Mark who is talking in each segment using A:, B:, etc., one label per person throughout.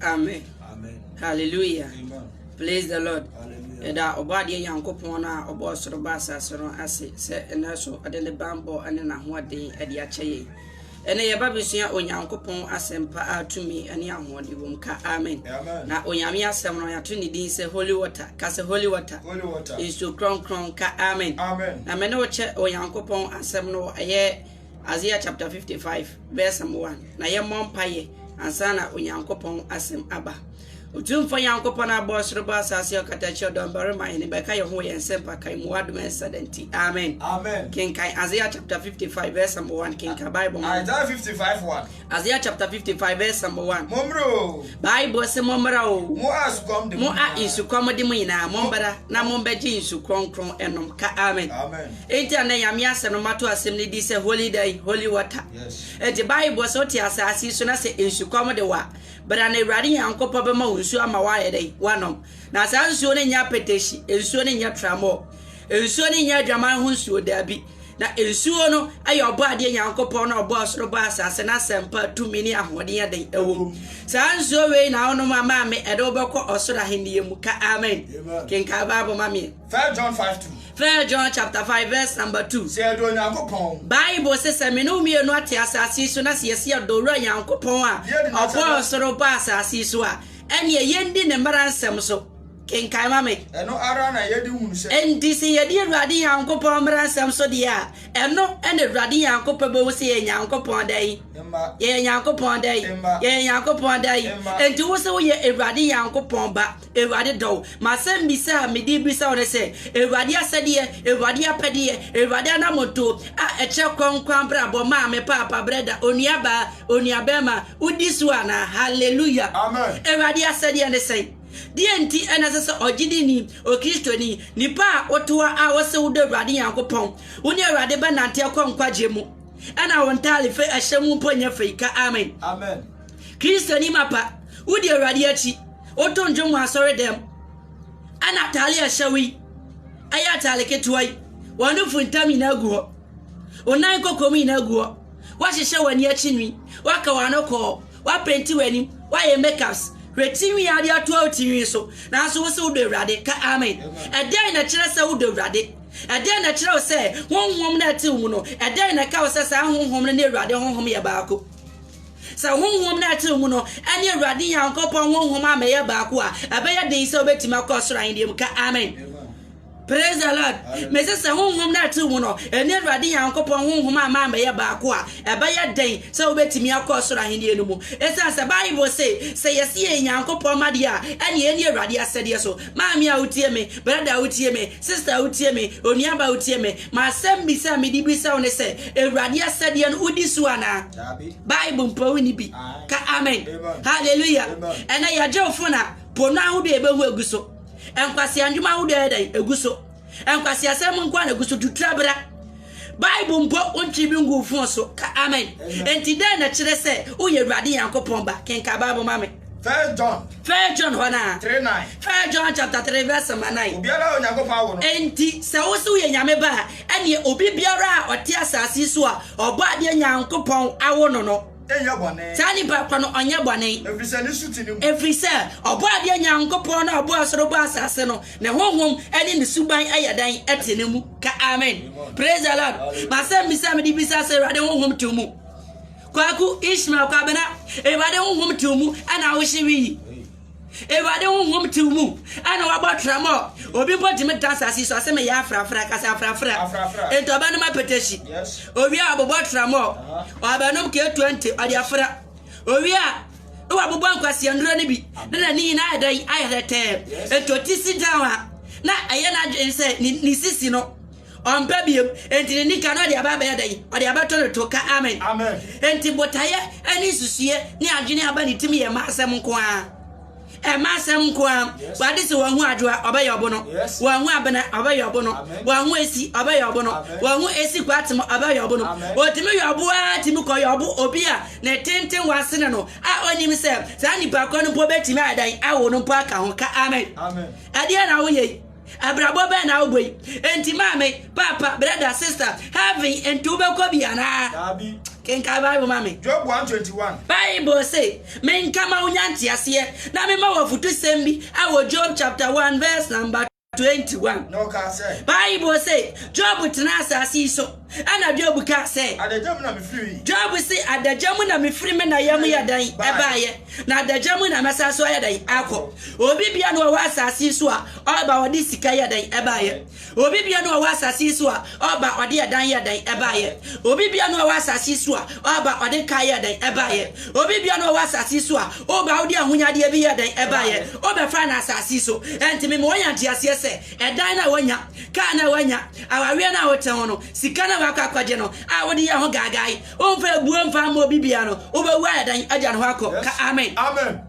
A: Amen. Amen.
B: Hallelujah. Amen.
A: Praise
B: the
A: Lord. Ɛda ɔbɔadeɛ Nyankopɔn no a ɔbɔ ɔsoro ba asase no ase sɛ ɛnɛ so ɔde ne bammɔ ne n'ahoɔden de akyɛ yɛn. Ɛnɛ yɛba bɛsua Onyankopɔn asɛmpa a tumi ne ahoɔden wɔ mu ka amen. Na Onyame
B: asɛm no
A: yɛato ne din sɛ holy water ka sɛ holy water nsuo
B: krɔnkrɔn
A: ka amen. Na mene wokyɛ Onyankopɔn asɛm no ɛyɛ Isaiah chapter 55 verse number 1 na yɛmmɔ mpaeɛ ansa na Onyankopɔn asɛm aba. Otumfoɔ Nyankopɔn a ɔbɔɔ soro bɔ asase ɔkata kyerɛ dɔm barima yɛn bɛka yɛn ho wɔ yɛn nsɛmpa kan mu wadom ɛnsa da nti. Amen. Amen. Kenkan
B: Isaiah chapter
A: 55 verse number 1 kenkan Bible mu. Isaiah
B: 55 1. Isaiah chapter 55
A: verse number 1. Mommra o.
B: Bible sɛ mommra
A: o. Mo a nsukɔm de mo.
B: Mo a nsukɔm
A: de
B: mo
A: nyinaa mommra na mombɛgye nsu kronkron ɛnom ka amen. Amen. Enti ɛnnɛ
B: Nyame
A: asɛm no mato asɛm no din sɛ Holy dɛn? Holy water. Enti Bible
B: bɔ sɛ wote
A: asaase yi so na sɛ nsukɔm de wo a, bra na Awurade Nyankopɔn bɛma wo nsuo ama woayɛ dɛn? Woanom. Na saa nsuo no nyɛ apɛtɛhyi, nsuo no nyɛ tramɔɔ, nsuo no nyɛ adwaman ho nsuo, daabi. Na nsuo no yɛ ɔbɔadeɛ Nyankopɔn no a ɔbɔɔ soro bɔɔ asaase no asɛmpa a tumi ne ahoɔden a dɛn ɛwɔ mu. Saa nsuo wei na wonom a maame ɛde wo bɛkɔ ɔsoro ahennie mu. Ka Amen. Kenkan Bible ma meɛ. First
B: John five two. First John chapter
A: five verse number two. Sɛ yɛdɔ Nyankopɔn.
B: Bible se sɛ me
A: ne wo mmienu ate asase yi so na sɛ yɛse yɛdɔ Owura Nyankopɔn a ɔbɔɔ ɔsoro bɔɔ asase yi so a, ɛneɛ yɛndi ne mmara nsɛm so. Kenkan ma me. Ɛno ara na yɛde
B: hunu sɛ. Enti sɛ yɛdi Awurade
A: Nyankopɔn mmara nsɛm so deɛ a, ɛno na Awurade Nyankopɔn bɛhu sɛ yɛyɛ Nyankopɔn dɛn? Mma. Yɛyɛ Nyankopɔn dɛn? Mma. Yɛyɛ Nyankopɔn dɛn? Mma. Enti wo se woyɛ Awurade Nyankopɔn ba. Awurade dɔ wo. M'asɛmmisa a mede rebisa wo ne sɛ, Awurade asɛdeɛ, Awurade apɛdeɛ, Awurade anammɔntoo a ɛkyerɛ kwan nkwa abrabɔ, maame, paapa, brɛda, onuabaa, onuabarima, wodi so anaa? Hallelujah! Amen. Awurade
B: asɛdeɛ ne
A: sɛn? Deɛn nti na ɛsɛ sɛ ɔgyidini, Okristoni, nipa a wotoa a wose wodɔ Awurade Nyankopɔn, wo ne Awurade bɛnante akɔ nkwagyeɛ mu, ɛna wo ntaadefe a ɛhyɛ mu mpo nyɛ fɛ yi? Ka Amen. Amen.
B: Christiannyi
A: mapa, wodzi Ewuradze akyi, wotow ndwom wɔ asɔrdan mu, ana ataare a ɛhyɛ wo yi, ɛyɛ ataare ketewa yi, w'anufo ntam nyina gu hɔ, wo nan nkoko mu nyina gu hɔ, woahyehyɛ w'ani akyi nwi, woaka w'ano kɔɔ, woapenti w'anim, woayɛ makeups, hwɛ tsinwii a wɔdze atoa wo tsinwii so, naaso wo se wodɔ Ewuradze, ka amen. Dɛn na ɛkyerɛ sɛ wodɔ Ewuradze? Dɛn na ɛkyerɛ wo sɛ honhom no a ɛtse wo mu no, dɛn na ɛka wo sɛ saa honhom no ne Ewuradze honhom yɛ baako? Sɛ honhom no a ɛte wo mu no ne Awurade Nyankopɔn honhom ammɛyɛ baako a, ɛbɛyɛ den sɛ wobɛtumi akɔ ɔsoro ahenni mu. Ka amen. Praise the Lord. Mese sɛ honhom no a ɛte wo mu no ne Awurade Nyankopɔn honhom a amma ammɛyɛ baako a, ɛbɛyɛ den sɛ wobɛtumi akɔ ɔsoro ahenni no mu. Ɛsiane sɛ Bible se, sɛ yɛse yɛyɛ Nyankopɔn mma deɛ a, ɛneɛ yɛnni Awurade asɛdeɛ so. Maame a wotie me, brada a wotie me, sister a wotie me, onuabaa a wotie me, M'asɛmmisa a mede bisa wo ne sɛ, Awurade asɛdeɛ no wodi so anaa? Bible mpo wonni bi. Ka amen. Hallelujah. Ɛnɛ yɛgye wo fona po no ahodoɔ ɛbɛhu egu so. Nkwasea ndwuma ahodoɔ yɛ dɛn egu so. Nkwasea sɛ mu nkoa na egu so tutura bra. Bible mpo wontwe bi ngu fon so. Ka amen. Enti dɛn na ɛkyerɛ sɛ woyɛ Awurade Nyankopɔn ba? Kenka Bible ma me. First John.
B: First John hɔ na. Three nine.
A: First John
B: chapter
A: three verse number nine. Obiara a Onyankopɔn awo no.
B: Enti sɛ wo se woyɛ
A: Nyame ba a, ɛneɛ obi biara a ɔte asase yi so a ɔbɔ adeɛ Nyankopɔn awo no no. Nyɛ bɔne. Saa
B: nipa korɔ no ɔnyɛ
A: bɔne. Ɛfiri sɛ ne su te ne
B: mu. Ɛfiri sɛ ɔbɔ
A: adeɛ Nyankopɔn no a ɔbɔɔ soro bɔɔ asase no, ne honhom ne ne suban yɛ dɛn? Ɛte ne mu. Ka amen. Praise the Lord. Masɛm bisa a mede bisa sɛ Awurade honhom te wo mu? Kwaku Ishmael Kwabena, Awurade honhom te wo mu ɛna ahohye wi yi. Awurade honhom te wo mu ɛna wabɔ tramɔ. Obi mpo ntumi da asase so ase meyɛ afrafra kasa afrafra. Enti ɔbɛnom apetahyi. Owie a ɔbobɔ tramɔ. Ɔbɛnom K20 ɔde afra. Owie a na wabobɔ nkwasia nnuro no bi na n'ani nyinaa ayɛ dɛn ayɛ tɛtɛɛ. Enti ɔte si down a na ɛyɛ n'adwene sɛ ne sisi no Ɔmpɛ biom, enti ne nika no ɔde aba abɛyɛ dɛn? Ɔde abɛto no to. Ka amen. Amen. Enti
B: botaeɛ
A: ne nsusuiɛ ne adwene a ɛba ne tim yɛ mmaa asɛm nko ara. Ɛmmaa asɛm nko ara. Wade sɛ wahu adwoa, ɔbɛyɛ ɔbono. Wahu abena, ɔbɛyɛ ɔbono. Wahu esi, ɔbɛyɛ ɔbono. Wahu esi kɔ atem, ɔbɛyɛ ɔbono. Ɔtumi yɛ ɔbo ara tumi kɔ yɛ ɔbo obi a ne tenten wɔ asene no a ɔnim sɛ saa nipa korɔ no mpo bɛtumi ayɛ dɛn awo no mpo aka ho. Ka amen. Ɛdeɛn na
B: woyɛ yi?
A: Abrabɔ bɛn na wobɔ yi? Enti maame, paapa, brɛda, sista, heaven nti wobɛkɔ bi anaa? Daabi. Kenkan Bible ma me. Job 1:21.
B: Bible se,
A: Menka ma wonya nteaseɛ, na mema wo afotusɛm bi, ɛwɔ Job chapter 1 verse number 21. Na ɔkaa
B: sɛ. Bible se,
A: Job tenaa asase yi so. Ɛnna Joab kaa sɛ. Adagya
B: mu na mefiri. Joab se, Adagya
A: mu na mefiri me na yam yɛ dɛn baeɛ, na adagya mu na mɛsan so ayɛ dɛn akɔ? Obi biara na ɔwɔ asase yi so a ɔba ɔde sika yɛ dɛn baeɛ? Obi biara na ɔwɔ asase yi so a ɔba ɔde ɛdan yɛ dɛn baeɛ? Obi biara na ɔwɔ asase yi so a ɔba ɔde kaa yɛ dɛn baeɛ? Obi biara na ɔwɔ asase yi so a woba wode ahonyadeɛ bi yɛ dɛn baeɛ? Wobɛfaa no asase yi so. Enti me ma wɔnya nteaseɛ sɛ. Ɛdan no a woanya, kaa no a woanya, awareɛ no a wote ho no, sika no a woakɔ akɔgye no a wode yɛ ho gaagae, womfa abuo mfa mma obi biara no, wobɛwu ayɛ dɛn agya no hɔ akɔ? Ka amen.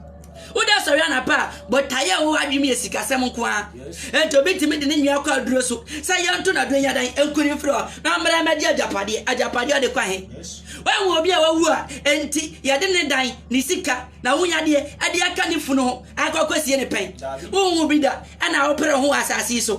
B: Woda sɔre
A: anapa a, botaeɛ a ɛwɔ w'adwene mu yɛ sikasɛm nko ara. Enti obi tumi de ne nua akɔ aduro so sɛ yɛnto no aduro nyɛ dɛn nku no mfiri hɔ na ɔmmra mmɛgye agyapadeɛ. Agyapadeɛ ɔde kɔ ahe? Woahu obi a wawu a enti yɛde ne dan, ne sika, n'ahonyadeɛ de aka ne funu ho akɔ akɔsie no pɛn? Wonhuu bi da. na wopere ho wɔ asase yi so.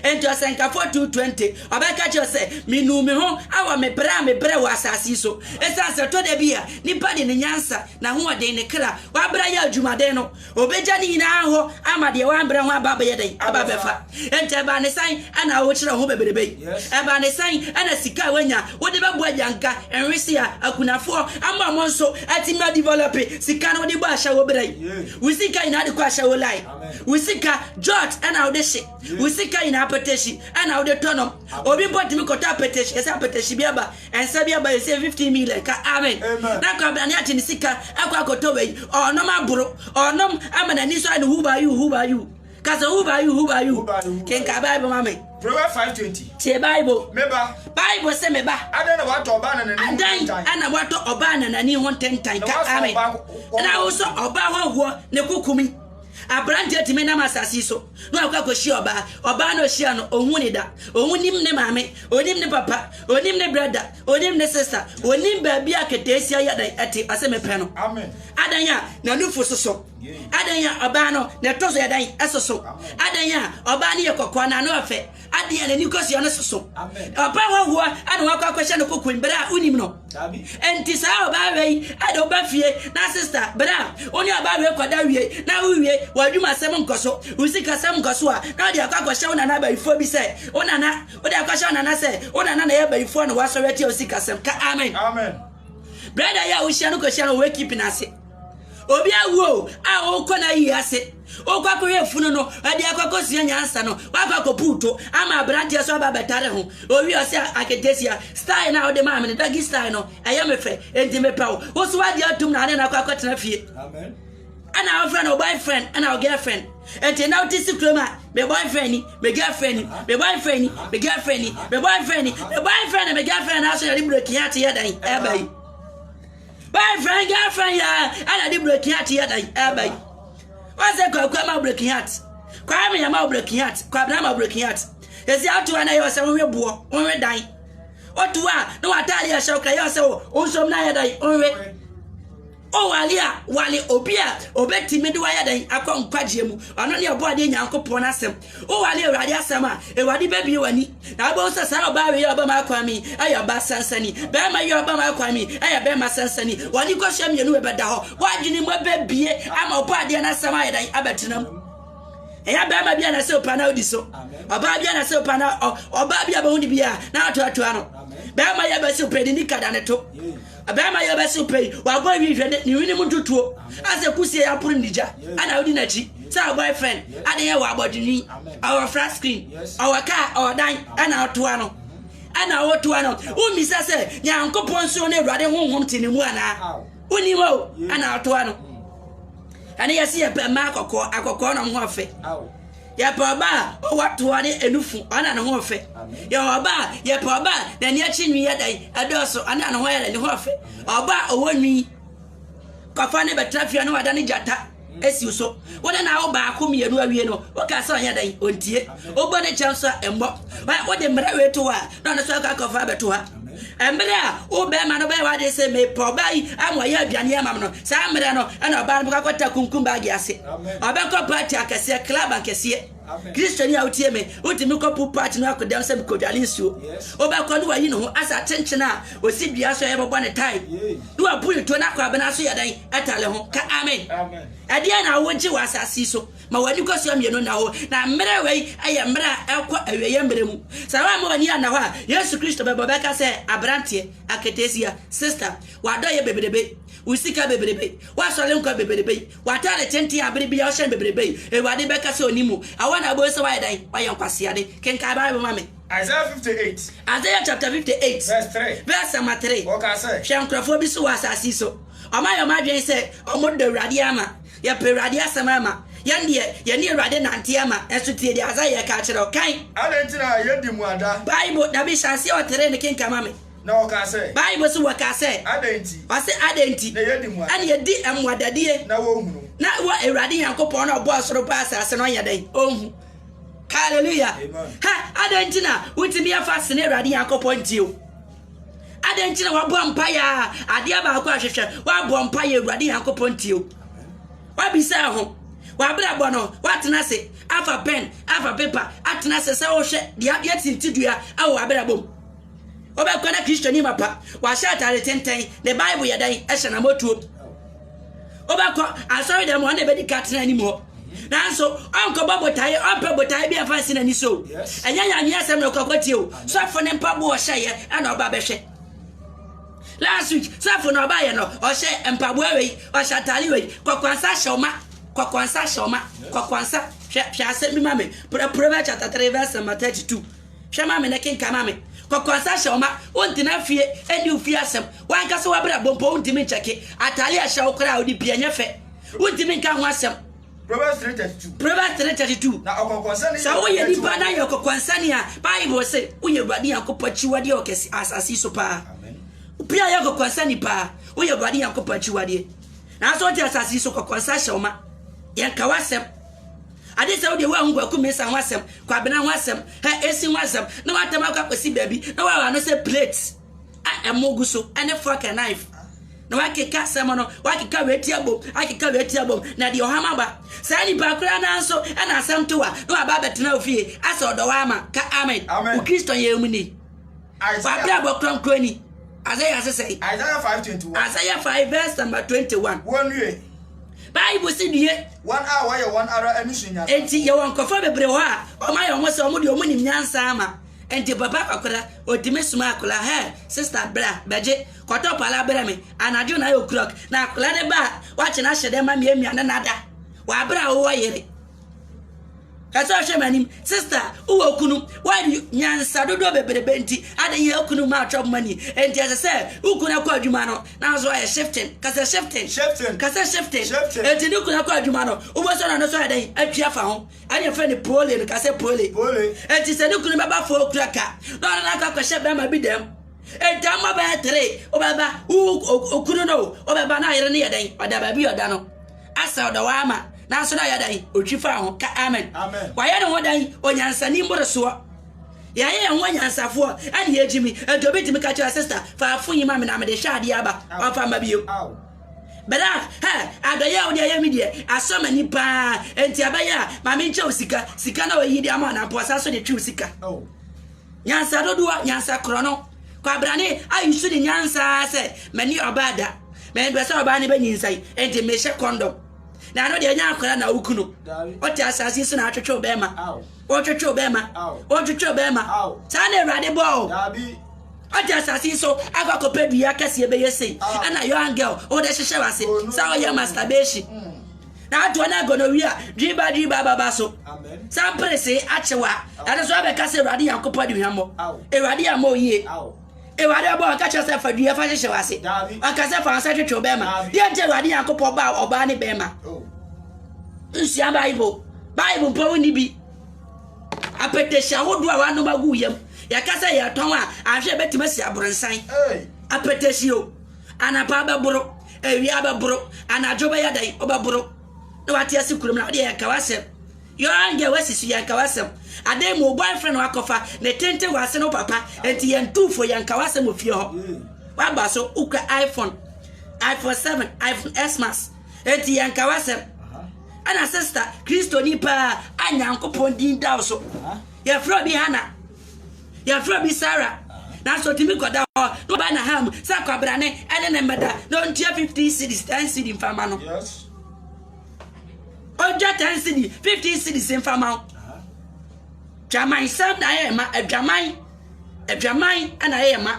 A: Enti ɔsɛnkafo tu 20, ɔbɛka kyerɛ sɛ, Minuu me ho wɔ me brɛ a mebrɛ wɔ asase yi so. Esiane sɛ ɛtɔ da bi a nipa de ne nyansa, n'ahoɔden, ne kra, wabrɛ yɛ adwumaden no, obegya ne nyinaa hɔ ama deɛ wambrɛ ho aba abɛyɛ dɛn? Aba abɛfa. Enti ɛbaa ne sɛn na wokyerɛ wo ho bebrebe yi? Ɛbaa ne sɛn na sika a woanya wode bɛbɔ agyanka, nwesea, akunafoɔ ama wɔn nso atumi adevelɔpe sika no wode bɔ ahyɛwo brɛ yi? Wo sika nyinaa de kɔ ahyɛwo line. wo sika jot ɛna wode hye wo sika nyinaa apɛtɛhyi ɛna wode tɔ nom obi mpo tumi kɔtɔ apɛtɛhyi ɛsɛ apɛtɛhyi bi aba ɛnsa bi aba ɛsɛ 15 million ka amen na kwabra ne ate ne sika akɔ akɔtɔ wei ɔnom aboro ɔnom ama n'ani so ayɛ no huba yu huba yu kasa huba yu huba yu kenka bible ma me Proverbs 5:20.
B: Tie Bible.
A: Meba. Bible
B: sɛ meba.
A: Adan na watɔ ɔbaa na
B: n'ani ho ntentan. Adan na watɔ
A: ɔbaa na n'ani ho ntentan. Ka amen. Na wosɔ ɔbaa ho ahoɔ ne kukumi. Aberanteɛ tumi nam asase yi so na wakɔ akɔhyia ɔbaa. Ɔbaa no ɔhyia no, ɔhu ne da. Ɔnim ne maame, ɔnim ne papa, ɔnim ne brada, ɔnim ne sista, ɔnim baabi a keteesia yi adan ɛte, ɔse mepɛ no. Adan a
B: n'anufo
A: soso, adan a ɔbaa no na ɛtɔ so yɛ dan ɛsoso, adan a ɔbaa no yɛ kɔkɔɔ na ano ɔfɛ, adeɛ a n'ani kɔsua no soso ɔbaa hɔhoɔ ɛna wakɔ akɔhyɛ no kokoam berɛ a wonim no ɛnti saa ɔbaa wei ɛde woba fie na sista berɛ a wo ne ɔbaa wei kɔda wie na wowie wɔadwuma asɛm nkɔ so wo sikasɛm nkɔ so a na wode akɔ akɔhyɛ wo nana abayifoɔ bi sɛ wo nana wode akɔhyɛ wo nana sɛ wo nana na ɛyɛ abayifoɔ na woasɔre atia wo sikasɛm ka amen brada yi a wohyia no kɔhyia no wɔwɛ kipi no ase Obi awu o, a wokɔ n'ayie ase, wokɔ akɔhwɛ funu no, ɛde akɔ akɔsua nyansa no, wakɔ akɔpu to ama aberanteɛ so aba bɛtare ho. Owie ɔsɛ aketesia, style no a wode maa me no, doggy style no, ɛyɛ me fɛ, enti mepɛ wo. Wo so wagye atom na ade na akɔ akɔtena fie. Ɛna wofrɛ no boyfriend ɛna wo girlfriend. Enti na wote si kurom a, me boyfriend ni, me girlfriend ni, me boyfriend ni, me girlfriend ni, me boyfriend ni, me boyfriend ni, me girlfriend ni, aso yɛde breki hɛn ate yɛ dɛn ɛba yi. Boyfriend girlfriend ya ana de breaking heart ya dan aba yi. Ɔsɛ kwaku ama breaking heart. Kwame ya ma breaking heart. Kwabena ama breaking heart. Esi ato ana ya ɔsɛ onwe boɔ, onwe dan. Otu a na watade ya hyɛ okra ya ɔsɛ o onsom na ya dan onwe. O wale a wale obi a obetimi de wayɛ dan akɔ nkwagyeɛ mu. Ɔno ne ɔbɔ adeɛ Nyankopɔn asɛm. Woware Awurade asɛm a, Awurade bɛbie w'ani, na wobɛhu sɛ saa ɔbaa wei a ɔba m'akwan mi yɛ ɔbaa sansani, bɛrima yi a ɔba m'akwan mi yɛ bɛrima sansani. Wɔne kɔhyia mmienu wei bɛda hɔ, w'adwene mu bɛbie ama ɔbɔ adeɛ no asɛm ayɛ dɛn abɛtena mu. Ɛyɛ bɛrima bi a na sɛ opa na odi so, ɔbaa bi a na sɛ opa na ɔbaa bi a bɛhu ne bi a na atoatoa no. Bɛrima yɛ bɛsi pɛ de ni kada ne to. Abarima yi a ɔbɛsew pɛ yi, wabɔ nhwi nhwɛ ne nhwi no mu ntotoɔ, asɛ kusie yi aporo ne gya, ɛna wodi n'akyi sɛ ɔwɔ boyfriend, adeɛ ɔwɔ abɔdini, ɔwɔ flat screen, ɔwɔ car, ɔwɔ dan, ɛna ɔtoa no, ɛna ɔtoa no, wommisa sɛ Nyankopɔn nsuo ne Awurade honhom te ne mu anaa? Wonim o, ɛna ɔtoa no. Ɛne yɛse yɛpɛ mmaa akɔkɔɔ, akɔkɔɔ na ɔmo ho afɛ. Yɛpɛ ɔba a ɔwɔ toa ne nufu ɔne a ne ho yɛ fɛ. Yɛwɔ ɔba a yɛpɛ ɔba a n'ani akyi nwi yɛ dɛn ɛdɔɔso ɔne a ne ho yɛ dɛn ne ho yɛ fɛ. Ɔba a ɔwɔ nwi kɔfa ne bɛtena fie no wada ne gyata esiw so. Wo ne n'awo baako mmienu awie no woka sɛ ɔnyɛ dɛn ontie. Wobɔ ne kyɛ nso a ɛmmɔ. Wode mmerɛ wei to hɔ a na ɔno nso akɔ akɔfa abɛto ha. Mmerɛ a wo bɛrima no bɛyɛ w'adeɛ sɛ mepɛ ɔbaa yi ama ɔyɛ aduane ama me no saa mmerɛ no ɛna ɔbaa no bɛkɔ akɔta kunkum baage ase ɔbɛkɔ party akɛseɛ club akɛseɛ kristoni a wotie me wotumi kɔpo party no akɔdam sɛ mekɔdwane nsuo wobɛkɔ ne wayi ne ho asa atenkyen a ɔsi dua so ɛbɛbɔ ne tae ne wabu ne to no akɔ abena so yɛ dɛn ɛtale ho ka amen ɛdeɛ na wogye wɔ asase so Ma w'ani kɔ soɔ mmienu nna hɔ. Na mmerɛ wei yɛ mmerɛ a ɛrekɔ awieɛ mmerɛ mu. Sɛ woamma w'ani anna hɔ a, Yesu Kristo bɛba ɔbɛka sɛ, Aberanteɛ, aketesia, sista, w'adɔeɛ bebrebe, wo sika bebrebe, w'asɔre nkwa bebrebe, w'ataade tenten a bere biara wohyɛ no bebrebe yi, Awurade bɛka sɛ ɔnnim wo. Ɛhɔ na wobɛhu sɛ woayɛ dɛn? Woayɛ nkwaseade. Kenkan Bible ma me. Isaiah
B: 58. Isaiah chapter 58
A: Verse three. verse
B: number three. Ɔkaa
A: sɛ. Hwɛ nkurɔfoɔ
B: bi so wɔ asase
A: yi so. Wɔayɛ wɔn adwene sɛ wɔdɔ Awurade ama. Yɛpɛ Awurade asɛm ara ma. Yɛn deɛ, yɛne Awurade nante ara ma, nanso tie deɛ Hasaia reka akyerɛ wo. Kan. Adɛn nti na yɛadi
B: mmuada? Bible, na bi hyɛ aseɛ
A: ɔteree ne kenka ma me. Na ɔkaa sɛ.
B: Bible se wɔkaa sɛ.
A: Adɛn nti. Ɔse
B: adɛn nti.
A: Na yɛadi mmuada. Ɛne yɛdi
B: mmuadadie.
A: Na wɔnhunu. Na
B: wɔ Awurade
A: Nyankopɔn no a ɔbɔɔ soro bɔɔ asase no ɔnyɛ dɛn? Ɔnhu. Hallelujah. Amen. Ha,
B: adɛn nti na
A: wontumi ɛmfa sene Awurade Nyankopɔn ntie wo? Adɛn nti na wabɔ mpaeɛ a adeɛ baako a hwehwɛ wabɔ mpaeɛ awurade nyankopɔn tie o wabisa ho wabrabɔ no watena ase afa pɛn afa pepa atena ase sɛ wohwɛ deɛ adeɛ tinti dua awɔ wabrabɔ mu wobɛkɔ na kristoni mapa wahyɛ atare tenten ne bible yɛ dɛn ɛhyɛ na mɔtuo Wobɛkɔ asɔre dɛm hɔ na ɛbɛdi ka tena anim hɔ. nanso ɔnkɔbɔ botae ɔmpɛ botae bi ɛfa nsi n'ani so ɛnyɛ nyame asɛm na ɔkɔkɔ tie o sɔfo ne mpaboa ɔhyɛeɛ ɛna ɔba bɛhwɛ last week sɔfo na ɔbaeɛ no ɔhyɛ mpaboa wei ɔhyɛ atare wei kɔkɔansa hyɛ ɔma kɔkɔansa hyɛ ɔma kɔkɔansa hwɛ hwɛ asɛm bi ma me Proverbs chapter 3 verse number 32 Hwɛ ma me na kenkan ma me. Kɔkɔansa hyɛ wo ma wontena fie ɛnni wo fie asɛm. W'ankasa w'abrabɔ mpo wontumi nkyɛke. Ataade a ɛhyɛ wo koraa a wode bi ɛnyɛ fɛ. Wontumi nka ho asɛm. Proverbs 3:32.
B: Proverbs 3:32. Na
A: ɔkɔkɔansa ne
B: yɛ. Sɛ woyɛ nipa na
A: yɛ ɔkɔkɔansa ni a, Bible se woyɛ Awurade Nyankopɔn akyiwadeɛ wɔ kɛse asase yi so paa. Obi a yɛ ɔkɔkɔansa ni paa, woyɛ Awurade Nyankopɔn akyiwadeɛ. Nanso wote asase yi so kɔkɔansa hyɛ wo ma. Yɛnka w'asɛm. Ade sɛ wo deɛ woahu Kwaku Mensah ho asɛm, Kwabena ho asɛm, Her Essing ho asɛm, na w'atam akɔ akɔsi baabi na woawa ano sɛ plate a ɛmo gu so ne fork and knife na wakeka asɛm no wakeka wei ti abom akeka wei ti abom na deɛ ɔham aba saa nipa koraa naa nso ɛna asɛm to wa na waba abɛtena ofie asɛ ɔdɔ wa ama ka amen wo kristo yɛ mu ni wabra bɔ kronkron ni Isaiah sesɛe Isaiah
B: 5 verse
A: number 21 wɔnwie
B: Bible se
A: nie. Wɔn a wɔyɛ wɔn
B: ara ani so nyansa. Enti yɛwɔ nkurɔfoɔ
A: bebree wɔ hɔ a, wɔayɛ wɔn ho sɛ wɔn deɛ wɔn nim nyansa ama. Enti papa akwadaa, ɔtumi soma akwadaa, Hey, sister, bra, bɛgye, kɔtɔ pala brɛ me. Anadwo na ayɛ o'clock, na akwadaa no ba a, woakye no ahyɛ dɛ ma mmiamia ne nada. Wɔ abere a wowɔ yere. Ka sɛ, Hwɛ m'anim, sista, wowɔ kunu. Why do you, nyansa dodoɔ bebrebe nti, adɛn yɛ kunu ma atwa mma ni? Enti ɛsɛ sɛ wo kunu kɔ adwuma no, na nso ayɛ shifting. Ka sɛ, shifting. Shifting. Ka sɛ, shifting. Shifting. Enti ne kunu kɔ adwuma no, wobɛsɔ na no nso ayɛ dɛn? Atwi afa ho. Ɛne yɛfrɛ no pole no. Ka sɛ, pole. Pole. Enti sɛ ne kunu bɛba fo okura ka, na ɔne no akɔ akɔhyɛ bɛrima bi dɛm. Ntaama bɛyɛ three, wobɛba, wo okunu no, wobɛba na ayere no yɛ dɛn? Ɔda baabi a ɔda no. Asau da hɔ ara ma nanso na ɔyɛ dɛn? Otwi faa ho. Ka amen. Wayɛ ne ho dɛn? Onyansani mmorosoɔ. Yɛayɛ yɛn ho anyansafoɔ ɛne yɛgyimi. Ɛnti obi tumi ka kyerɛ sista fa afo yi ma me na mede hyɛ adeɛ aba. Ɔmfa mma bio. Bra, hɛ, adɔyɛ a wode ayɛ me deɛ asɔ m'ani paa. Ɛnti ɛbɛyɛ a ma menkyɛ wo sika. Sika no a wayi de ama wo no ampa ɔsan so de twe wo sika. Nyansa dodoɔ, nyansa korɔno. Kwabrane a nsu ne nyansa ara sɛ mani ɔbaa da. Mempɛ sɛ ɔbaa no bɛnyinsɛn, enti mehyɛ kɔndɔm. Na ɛno deɛ ɛnyɛ akwadaa na woku no. Wote asase yi so na atwetwew bɛrima. Wotwetwew bɛrima. Wotwetwew bɛrima. Saa na Awurade bɔɔ wo. Wote asase yi so akɔ akɔpɛ dua kɛseɛ bɛyɛ sei. Ɛna young girl, wode hyehyɛ w'ase sɛ woyɛ masturbation. na atoa no agonowia dwiriba dwiriba ababa so. Sɛ mperesee akye wo a, ɛno so abɛka sɛ Awurade Nyankopɔn de hwammɔ. Awurade amma wo yie. Awurade ɔbɔ ɔka kyerɛ sɛ fa dua fa hyehyɛ w'ase. Ɔka sɛ fa nsa twetwe wo bɛrima. Deɛ nti Awurade Nyankopɔn baa ɔbaa ne bɛrima. Nsua Bible. Bible mpo wo nni bi. Apɛtɛhyɛ ahodoɔ a wɔanom agu yam. Yɛka sɛ yɛtɔn a, ahwɛ ɛbɛtumi asi aborosan. Apɛtɛhyɛ o. Anapa bɛboro, awia bɛboro, anadwo bɛyɛ dɛn, wobɛboro na wate ase kurom na wode yɛn ka w'asɛm. Young girl wasi so yɛn ka w'asɛm. Adan mu wo boyfriend na wakɔfa ne tenten wɔ ase no papa nti yɛn tuufo yɛn ka w'asɛm wɔ fie hɔ. Waba so wokura iPhone, iPhone 7, iPhone X Max nti yɛn ka w'asɛm. Ɛna sister Kristoni paa a Nyankopɔn din da wo so. Yɛfrɛ obi Hannah. Yɛfrɛ bi Sarah, nanso otumi kɔda hɔ na ɔba n'aha mu sɛ kwabrane ne ne mmɛda na ontua 50 cedis, 10 cedi mfa ma no. Otwa 10 cedi, 50 cedis mfa ma wo. Dwamansɛm na ayɛ ma adwaman, adwaman na ayɛ ma.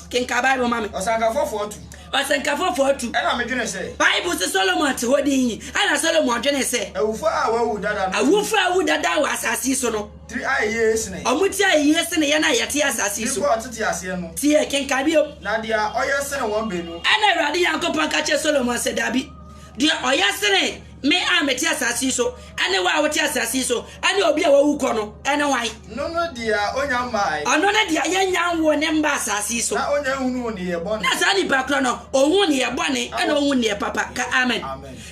A: Kenkan Bible ma me. Ɔsɛnkafo fo atu.
B: Ɔsɛnkafo fo
A: atu. Ɛna me dwene sɛ.
B: Bible se Solomon te
A: hɔ din yi. Ɛna Solomon dwene sɛ. Awufo a wɔawu
B: dada no. Awufo
A: a wɔawu dada wɔ asase yi so no. Tiri ayɛ yie
B: sene. Wɔn ti ayɛ yie
A: sene yɛn a yɛte asase yi so. Nipa a ɔtete aseɛ no. Tie, kenkan bio. Na deɛ ɔyɛ sene
B: wɔn baanu. Ɛna Awurade Nyankopɔn
A: ka kyerɛɛ Solomon sɛ, Dabi, deɛ ɔyɛ sene. Me a mete asase yi so, ɛne wo a wote asase yi so, ɛne obi a wawu kɔ no, ɛne hwan? No ne deɛ ɔnya
B: mmae. Ɔno ne deɛ yɛnya
A: nwoo ne mma asase yi so. Na ɔnya nhunuu nneyɛɛ
B: bɔne. Na saa nipa korɔ no,
A: ɔhu nneyɛɛ bɔne, ɛna ɔhu nneyɛɛ papa. Ka amen.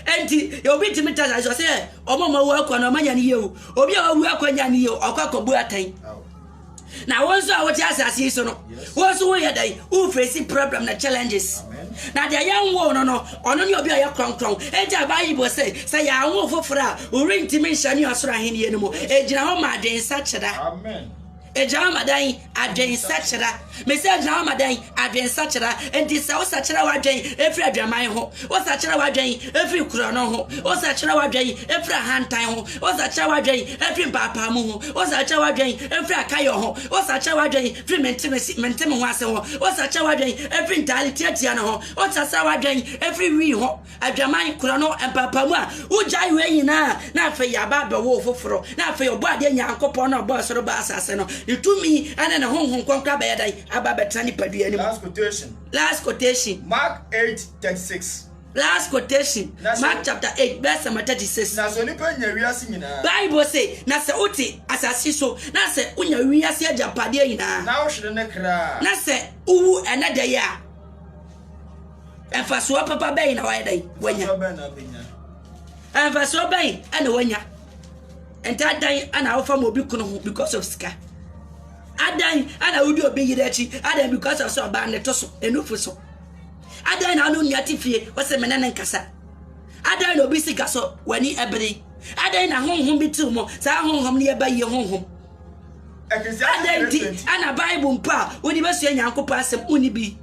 A: Enti, obi ntumi nte asase so, ɔsɛ wɔn a wɔawu akɔ no, wɔn anya ne yie o. Obi a wawu akɔ nya ne yie o, ɔkɔ akɔbu atɛn. na wo nso a wote asase yi so no wo nso woyɛ dɛn wofesi problem na challenges na deɛ yɛnwoo no no ɔno ne obi a ɔyɛ krɔnkrɔn enti a bible sɛ sɛ yɛanwo foforɔ a worentimi nhyɛ ne ɔsoro ahennie no mu ɛgyina hɔ ma adwensakyera
B: ɛgyina hɔ ma dan
A: adwensakyera Mise agyina hɔ ma dɛn? Adwensakyera. Enti sɛ wosakyera w'adwen firi adwaman ho, wosakyera w'adwen firi korɔno ho, wosakyera w'adwen firi ahantan ho, wosakyera w'adwen firi mpaapaamu ho, wosakyera w'adwen firi akayɔ ho, wosakyera w'adwen firi mentem-ho-ase ho, wosakyera w'adwen firi ntaade tiatia no ho, wosasera w'adwen firi wii ho, Adwaman kura no mpaapaamu a wogyae wei nyinaa na afei yɛaba abɛwo foforo na afei ɔbɔ adeɛ Nyankopɔn na ɔbɔ ɛsoro ba asase no ne tumi ne ne honhom kɔnkɔ abɛyɛ dan aba abɛtena nipadua anim. Last quotation.
B: Last quotation. Mark
A: 8:36. Last quotation. Mark chapter 8 verse number 36. Na sɛ onipa nya wiase nyinaa. Bible se na sɛ wote asase so na sɛ wonya wiase agyapadeɛ nyinaa. Na wohwere ne kra.
B: Na sɛ wowu
A: ɛnɛ da yi a. Mfasoɔ papa bɛn na wayɛ dɛn wanya? Mfasoɔ bɛn na wanya? Ntaa dan na wofa ma obi kono ho because of sika. Adan na wodi obi yere akyi adan because of sɛ ɔbaa ne to so enufu so. Adan na ɔno nua te fie ɔsɛ mene ne nkasa. Adan na obi sika so w'ani ɛbere. Adan na honhom bi tiw mo saa honhom ne yɛba yie honhom. Adan ti ana Bible mpo a wodi bɛsua Nyankopɔn asɛm wonni bi.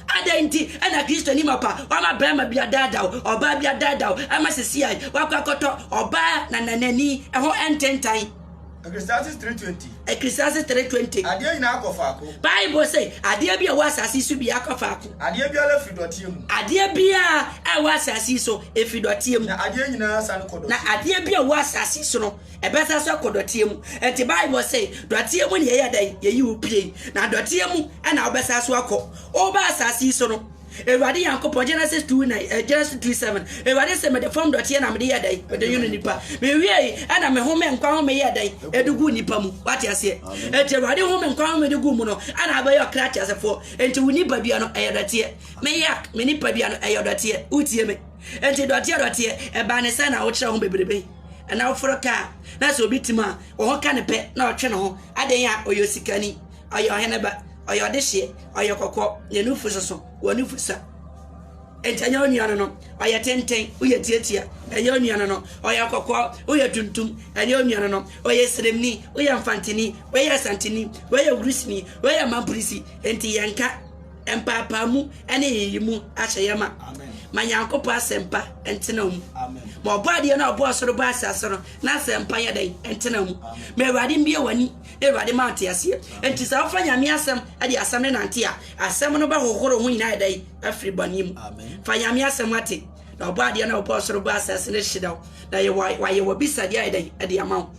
A: Adɛn nti na Kristoni mapa wama barima bi adaadaw, ɔbaa bi adaadaw, ama sisi a wakɔ akɔtɔ ɔbaa na nanani ho ntentan? Ecclesiastes
B: 3:20. Ecclesiastes
A: 3:20. Adeɛ nyinaa
B: kɔ faako. Bible sɛ
A: adeɛ bi a ɛwɔ asase so biara kɔ faako. Adeɛ biara firi dɔteɛ
B: mu. Adeɛ biara
A: a ɛwɔ asase so efiri dɔteɛ mu. Na adeɛ nyinaa san
B: kɔ dɔteɛ mu. Na adeɛ bi a ɛwɔ asase
A: so no. Ɛbɛsa so akɔ dɔteɛ mu. Enti Bible se, dɔteɛ mu na yɛyɛ dɛn? Yɛyi wo piei. Na dɔteɛ mu na wobɛsan so akɔ. Woreba asase yi so no, Awurade Nyankopɔn, Genesis two nine, eh, Genesis three seven, Awurade se, Mede fam dɔteɛ na mede yɛɛ dɛn? Mede nwono nnipa. Mewiei na me home nkwa home yɛɛ dɛn? Edu guu nnipa mu. Wate aseɛ? Enti Awurade home nkwa home de guu mu no, ɛna wobɛyɛ ɔkra teasefoɔ. Enti wo nipadua no, ɛyɛ dɔteɛ. Me yak, me nipadua no, ɛyɛ dɔteɛ. Wotie me? Enti dɔteɛ dɔteɛ, ɛbaa ne sɛn na wokyerɛ ho bebrebe? Anaa woforo ka a, na sɛ obi te mu a, wo ho ka no pɛ na ɔtwe ne ho. Adɛn a? Ɔyɛ osikani. Ɔyɛ ɔhene ba. Ɔyɛ ɔdehyeɛ. Ɔyɛ kɔkɔɔ. Ne nufu soso. Wɔn nufu sua. Enti ɛnyɛ wo nua no no. Ɔyɛ tenten. Woyɛ tiatia. Ɛnyɛ wo nua no no. Ɔyɛ kɔkɔɔ. Woyɛ tuntum. Ɛnyɛ wo nua no no. Ɔyɛ sremni. Woyɛ mfanteni. Wei yɛ asanteni. Wei yɛ wurisini. Wei yɛ mamprisi. Enti yɛnka. mpaapaamu ne nyiyimu ahyɛ yɛ ma ma nyankopɔn asɛmpa ntena mu ma ɔbɔ adeɛ no ɔbɔ ɔsoro bɔ asase no na asɛmpa yɛ dɛn ntena mu ma awurade mbie w'ani na awurade ma ɔte aseɛ nti sɛ wofa nyame asɛm de asɛm no nante a asɛm no bɛhohoro ho nyinaa ɛdɛn afiri bɔne mu fa nyame asɛm ate na ɔbɔ adeɛ no ɔbɔ ɔsoro bɔ asase no hyerɛ wo na wayɛ wabisadeɛ a ɛdɛn ɛde ama wo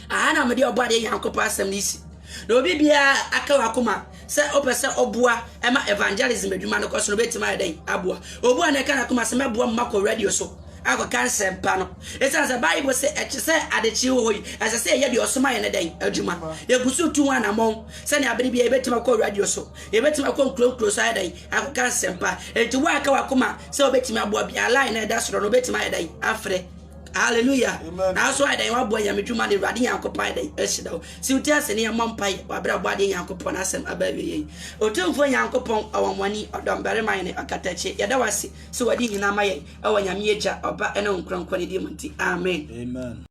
A: Aha na mede Ɔbɔadeɛ Nyankopɔn asɛm no si. Na obi biara aka wakoma sɛ ɔpɛ sɛ ɔboa ɛma evangelism adwuma no kɔ so no bɛtumi ayɛ dɛn aboa. Obu a na ɛka n'akoma sɛ mɛboa mma kɔ radio so akɔka nsɛmpa no. Ɛsiane sɛ Bible se ɛkyɛ sɛ adekyee wɔ hɔ yi, ɛsɛ sɛ yɛyɛ deɛ ɔsoma yɛ no dɛn adwuma. Yɛgu so tu ho anammɔn sɛnea bere biara yɛbɛtumi akɔ radio so, yɛbɛtumi akɔ nkuro nkuro so ayɛ dɛn akɔka nsɛmpa. Enti wo a aka wakoma sɛ wobɛtumi aboa biara, line na ɛda soro no wobɛtumi ayɛ dɛn afrɛ. Hallelujah. Nanso
B: ayɛ dɛn waboa nyame
A: dwuma no Awurade Nyankopɔn ayɛ dɛn ahyira wo. Si wo ti ase ne yɛmmɔ mpae wɔ aberɛ a ɔbɔ adeɛ Nyankopɔn no asɛm aba awieɛ yi. Otumfoɔ Nyankopɔn, ɔwanwani, ɔdɔmbarima hene, ɔkatakyie, yɛda wo ase sɛ wadi hene ama yɛn ɛwɔ Nyame Agya, Ɔba ne Wo Nkronkron no din mu nti. Amen.